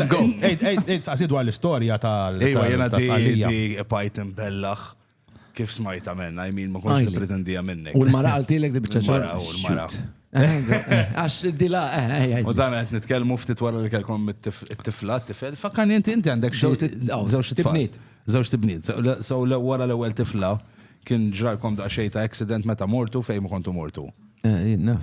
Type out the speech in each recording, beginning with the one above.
Go! Ejt, ejt, ejt, saqsi dwar l-istorja tal. Ejwa, jena di, tal-salija. di pajt imbellaħ kif smajta menna, I mean, ma konx Għajli. nipretendija minnek. U l-mara għaltilek di bieċa Mara, u l-mara. Għax di la, eh, eh, eh. U dan għet nitkelmu ftit wara li kelkom it-tifla, t-tifel. Fakkarni inti, inti għandek xi- Żewġ it- aw, żewġ tfal. tibniet. Żewġ tibniet. So, le- So le- wara l-ewwel tifla kien ġralkom daqsxejn ta' accident meta mortu fejn ma kontu mortu. Eh, jien naf.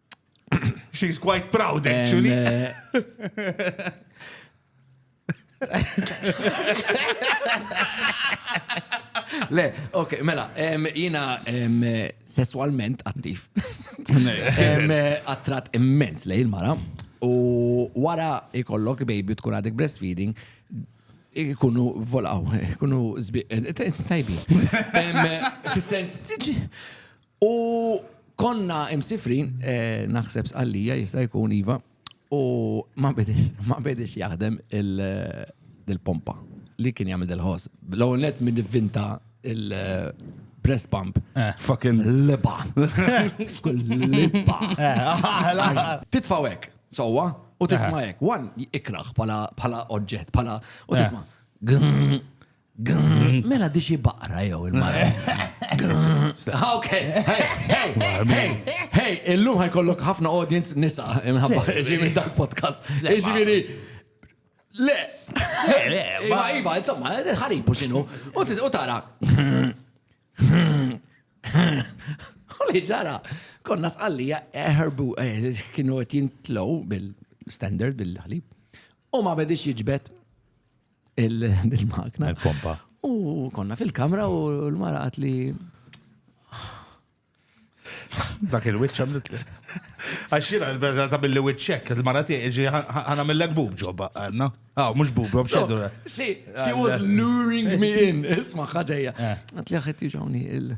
She's quite proud, actually. Eh, Le, ok, mela, jina sessualment attiv. Attrat immens lej il-mara. U wara ikollok baby tkun għadek breastfeeding, ikunu volaw, ikunu zbiq, eh, tajbi. Fis-sens, U konna imsifrin, eh, naħseb sqallija jista' jkun iva, u ma bedix jaħdem il-pompa eh, li kien jagħmel dil-ħoss. L-ewwel net minn vinta il- eh, breast pump. Fucking liba. Skull liba. Titfawek, sowa, u tisma' hekk. One ikraħ pala oġġett, pala u tisma' Mela di xi baqra jew il-mara. Ok, hey, hey, hey, hey, illum ħajkollok ħafna audience nisa imħabba ġivi dak podcast. Ġivi Le, le, le, ma iva, insomma, ħaribu xinu, u tara. Għalli ġara, konna sqallija eħerbu, eh, eh, kienu għet jintlow bil-standard, bil-ħalib, u ma bedix jġbet il-magna. Il-pompa. U konna fil-kamra u l-mara għat li. Dak il-witch għamlet li. Għaxina, ta' billi witchek, il-mara tieġi għana mill-lek bub ġobba, għanna. Għaw, ah, mux bub, għaw xeddu. Si, she was luring me in, isma ħagħja. Eh. Għat li għet iġawni il-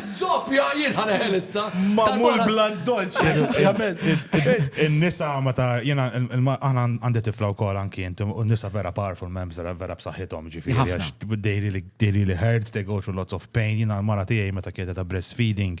Zoppja, jien ħaneħel issa. Mamul blan dolċi. Il-nisa ma ta' jena, għana għandi tifla u kol anki jent, u nisa vera powerful membs, vera b'saħħithom ġifiri, għax dejri li hurt, they go through lots of pain, jena l-mara tijaj meta kieta ta' breastfeeding,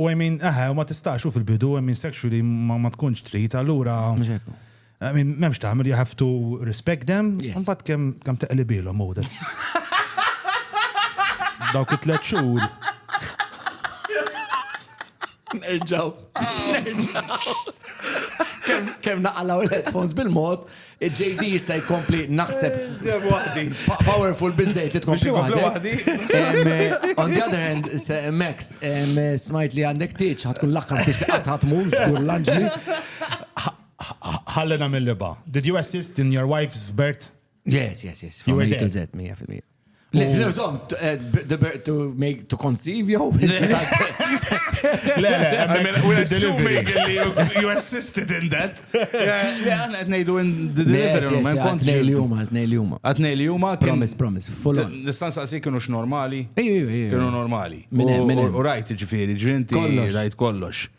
U I mean, eħe, u ma tistax, u fil-bidu, I mean, sexually ma ma tkunx trid, allura. Mhux hekk hu. I mean, m'hemmx tagħmel, you have to respect them, Yes. u mbagħad kemm kemm teqlibilhom hu that's. Dawk it-tliet xhur. Nerġaw. Nerġaw. Kemm kemm naqalgħu l-headphones bil-mod, Il-JD jista' jkompli naħseb. Dejjem waħdi. Powerful biżżejjed li tkompli waħdek. On the other hand, Max, smajt li għandek tieġ, ħa tkun l-aħħar tieġ li qatt ħa tmur, żgur l-anġli. Ħalli nagħmel libgħa. Did you assist in your wife's birth? Yes, yes, yes. From A to Z, 100%. Le, zom, eh, to make, to conceive, jow? Le, le, I mean, we're assuming that you assisted in that. Le, għan għet nejdu in the delivery room, għan kont. Għatnej li juma, għatnej li juma. Għatnej li juma. Promise, promise, full on. Nistan saqsi kienu x-normali. Iju, iju, iju. Kienu normali. Minn, minn. U rajt ġifiri, ġrinti, rajt kollox.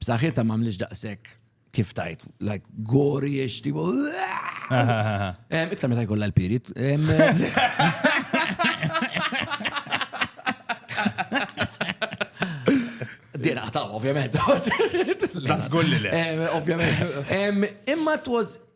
B'saħħitha ma mlix daqshekk kif tajt, like gori ix tipo. Iktar meta jkollha l-pirit. Din aħtaw, ovvjament. Nasgur li le. Ovvjament. Imma it was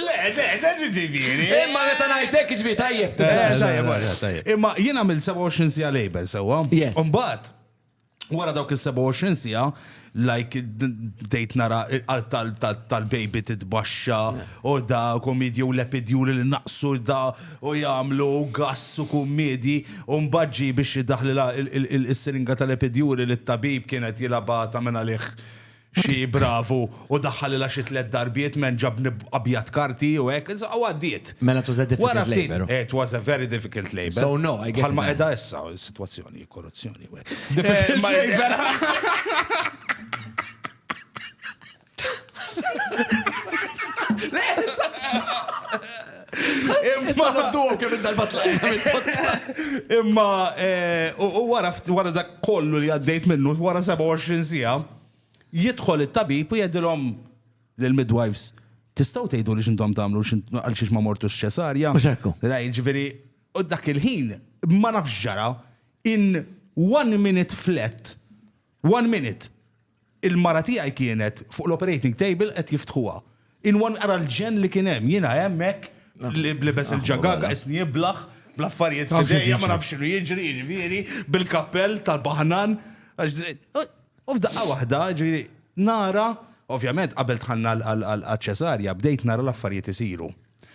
Le, le, le, ġiġifieri. Imma meta ngħid hekk jiġifieri tajjeb. Imma jien għamilt 27 siegħa label sewwa. Yes. Imbagħad wara dawk is-27 siegħa like bdejt nara il-qalb tal-baby titbaxxa u da komedji u lepidjuri li naqsu da u jagħmlu gass u kummedji u mbaġġi biex jidaħli il-siringa tal-lepidjuri li t-tabib kienet jilabha ta' minn għalih xi bravu u daħħalilha xi tliet darbiet m'hemm ġabni abjad karti u hekk, insomma u għaddiet. Mela it was a difficult labour. Wara ftit, it was a very difficult labour. So no, I get it. Bħalma qiegħda issa s-sitwazzjoni, korruzzjoni u hekk. Difficult labour. Issa nodduhom kemm il-darba tlaqna mill-podcast. Imma eh, u u wara ftit- wara dak kollu li għaddejt minnu, wara 27 siegħa, jidħol it-tabib u jgħidilhom lill-midwives, tistgħu tgħidu li x'intom tagħmlu x'int- għal xiex ma mortux ċesarja. Mhux hekk hu. Ra, jiġifieri, u dak il-ħin ma nafx ġara in one minute flat One minute! Il-mara tiegħi kienet fuq l-operating table qed jiftħuha. In one ara l-ġenn li kien hemm. Jiena hemm hekk libes il-ġagaga, qisni iblaħ, bl-affarijiet f'idejja, ma nafx x'inhu jiġri, jiġifieri, bil-kappell tal-baħnan. U f'daqqa waħda, jiġifieri, nara, ovvjament qabel dħalna għaċ-ċesarja bdejt nara l-affarijiet isiru.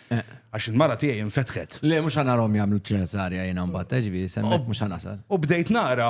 Għax il-mara tiegħi infetħet. Le, mhux ħa narahom jagħmlu ċesarja jiena mbagħad, jiġifieri, semmek mhux ħa nasal. U bdejt nara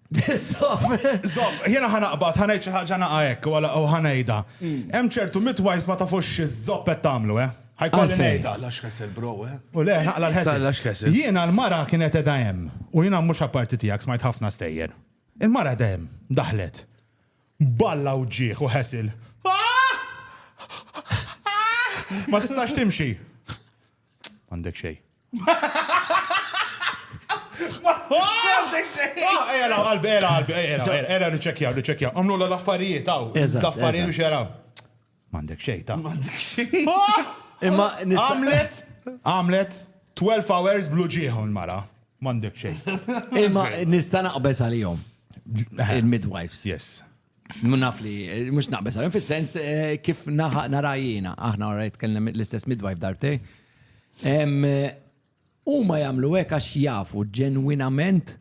Zob, jena ħanaqbad, ħanajt xi ħaġa naqa hekk u ħanejda. Hmm. Hemm ċertu midwives ma tafux iż-zob qed tagħmlu, eh? Ħajkolli ngħidha. Lax kessel bro, eh? U le, naqla l-ħesel. Jiena l-mara kienet edha hemm u jiena mhux apparti tiegħek smajt ħafna stejjer. Il-mara edha hemm, daħlet. Balla u ġieħ u ħesil. Ah! Ah! Ma tistax timxi. Għandek xej. Għandek xej. Ela, qalbi, ela, qalbi, ela, ela, niċċekja, niċċekja. Għamlu l-affarijiet, għaw. L-affarijiet biex jaraw. Għandek xej, ta' Għandek xej. Imma għamlet, għamlet 12 hours blu ġieħu l-mara. Għandek xej. Imma nista' naqbes għalihom. Il-midwives. Yes. Naf li, mux naqbes għalim, fil-sens eh, kif narajjina, aħna għarajt kellem l-istess midwife darbtej. U ma jamlu hekk għax jafu ġenwinament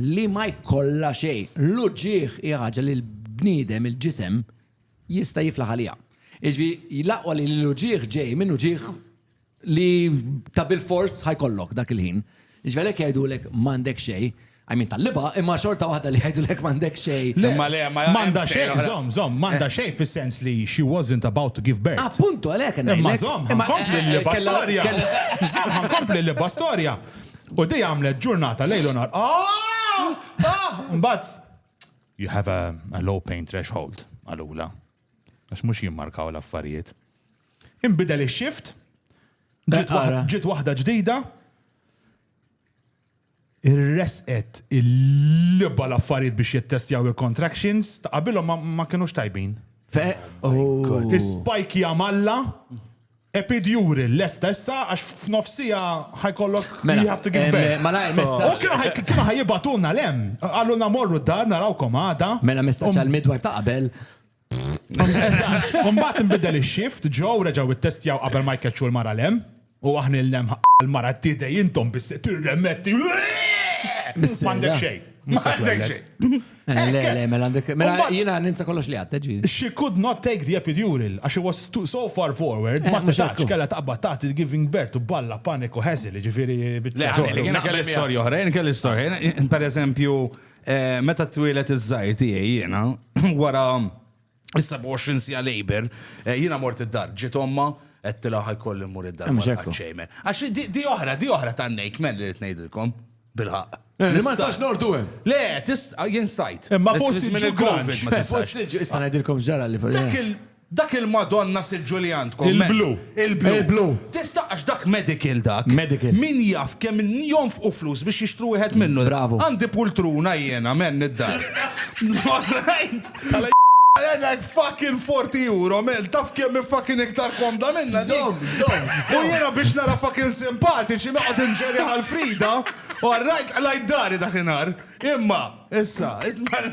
li ma jkollha xej. L-uġieħ ħaġa li l-bniedem il-ġisem jista' jiflaħ għalija. Iġvi, jilaqwa li l-uġieħ ġej minn uġieħ li ta' bil-fors ħajkollok dak il-ħin. Ġvelek jiġifieri jgħidulek m'għandek xej, għajmin tal-liba, imma xorta waħda li jgħidulek m'għandek xej. Imma le, ma m'għandha xej, zom, zom, m'għandha eh. xej fis-sens li she wasn't about to give birth. Appuntu għalhekk ngħidlek. Imma zom, ħankompli eh, eh, l-liba storja. Zom, ħankompli l-liba storja. U di għamlet ġurnata lejlu nar. Ah! Ah! Mbagħad you have a, a low pain threshold għalula. Għax mhux jimmarkaw l-affarijiet. Inbidel ix-shift, ġiet waħda ġdida, irresqet il-libba l-affarijiet biex jittestjaw il-contractions, ta' qabilhom ma kienux tajbin. Oh. Spike jamalla, Epid Juri lesta issa għax f'nofs siegħa ħa jkollok Mela, you have to give em, birth. malajr messaġġ. U kienu ħaj- kienu ħa jibgħatulna l-hemm. Qalulna morru d-dar narawkom għada. Mela messaġġ għal midwife ta' qabel. Eżatt. U mbagħad inbidel ix-shift, ġew reġgħu ittestjaw qabel ma jkeċċu l-mara l-hemm. U aħna l-hemm ħa l-mara tidej intom bis tirremetti. Mis-sejra. M'għandek xejn. Mhux se M'għandek twelled. xejn. Eh, le, le, mela għandek. Mela jina ninsa kollox li għatta ġiri. She could not take the epidural, għax she was too, so far forward, eh, ma setax kella taqba taħt il-giving birth u balla paniku ħeżil, ġifiri. Le, għalli, kena kelli storja oħra, jena kelli storja. Per eżempju, eh, meta t-twilet iż-żajti jena, wara is-27 sija labor, eh, jiena mort id-dar, ġiet omma, għedtila ħajkolli mmur id-dar. Hemm xekku. Ċejmen. Għax di- di oħra, di oħra tan-nejk, men li rrid ngħidilkom. Bilħaq. Eh, li ma nistax nordu hemm. Le, tist, ah, jien stajt. Eh, ma Is- fost żmien il-ġu il-Covid grunge. ma Eh, tistax. forsi ġu- Issa ngħidilkom ġara li fuq. Dak eh. il- Dak il-Madonna siġġu li għandkom. men. Il-blu. Il-blu. Il-blu. Tista' għax dak medical dak. Medical. Min jaf kemm jonfqu flus biex jixtru wieħed minnu. Bravo. Għandi pultruna jiena men id-dar. Right? Għedek fucking 40 euro, mel, taf kemm fucking iktar komda minna dik. Zom, zom, zom. U jena biex nara fucking simpatiċi noqgħod inġeri għal Frida, u għarrajt qlajt dari dak inhar. Imma, issa, isma'.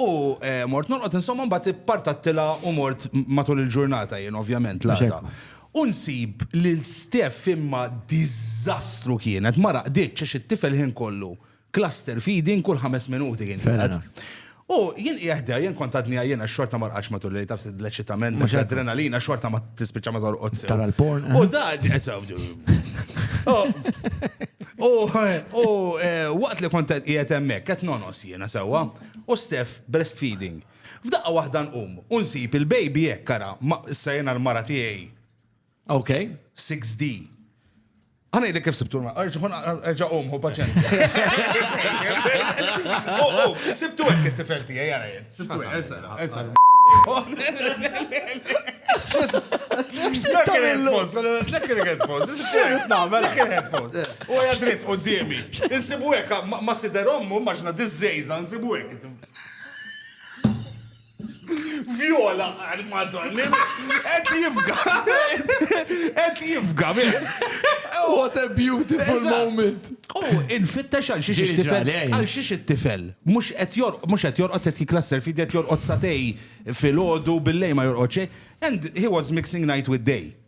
U mort norqod insomma mbagħad ippartattilha u mort matul il-ġurnata jien ovvjament l-għada. Unsib li l-Steff imma diżastru kienet, ma raqditx għax it-tifel ħin kollu cluster feeding kull ħames minuti kien jingħad. U jien qiegħda, jien kont għadni għajjien għax xorta ma rqadx matul il-lejl taf l-eċitament, mhux l-adrenalina xorta ma tispiċċa ma torqodx. Tara l-porn. U da, u waqt li kont qiegħed hemmhekk qed nonos Jiena sewwa? U Steph breastfeeding. F'daqqa waħda nqum u nsib il-baby hekk ara, ma issa jiena l-mara tiegħi. Ok. 6D. Għana jidek kif sibtu l-mara, erġa qum, hu paċenza. U oh, oh, sibtu hekk it-tifel tiegħi jara jien. Sibtu hekk, ersa, ersa. Dak il-headphones, dak il-headphones, dak il-headphones. Huwa qiegħed dritt quddiemi. Insibu hekk, ma' sider ommu, immaġina diż-żgħiżagħ nsibu hekk. Viola, madonna, qed jifga, qed jifga, What a beautiful moment. U infittex għal xiex it-tifel, għal xiex it-tifel. Mux qed jorqod, mux qed jorqod qed jiklasser fidi qed jorqod satej fil-ħodu billej ma jorqod xej. And he was mixing night with day.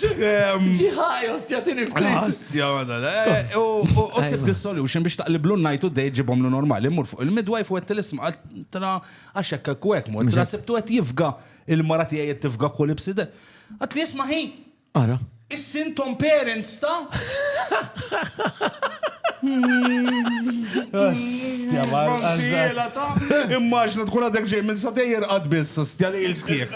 Ġiħaj, ostja, tini ftit. Ostja, għana, eh, u sib di solution biex taqliblu najtu dej ġibom lu normali, mur fuq il-midwife u għet l-isma, għaltra għaxek kwek, mur, għaltra sibtu għet jifga il-marati għet tifga kull ibside. Għat li jisma hi. Ara. Is-sintom parents ta' Immaġna tkun għadek ġej minn satejjer għad biss, stja li il-skieħ.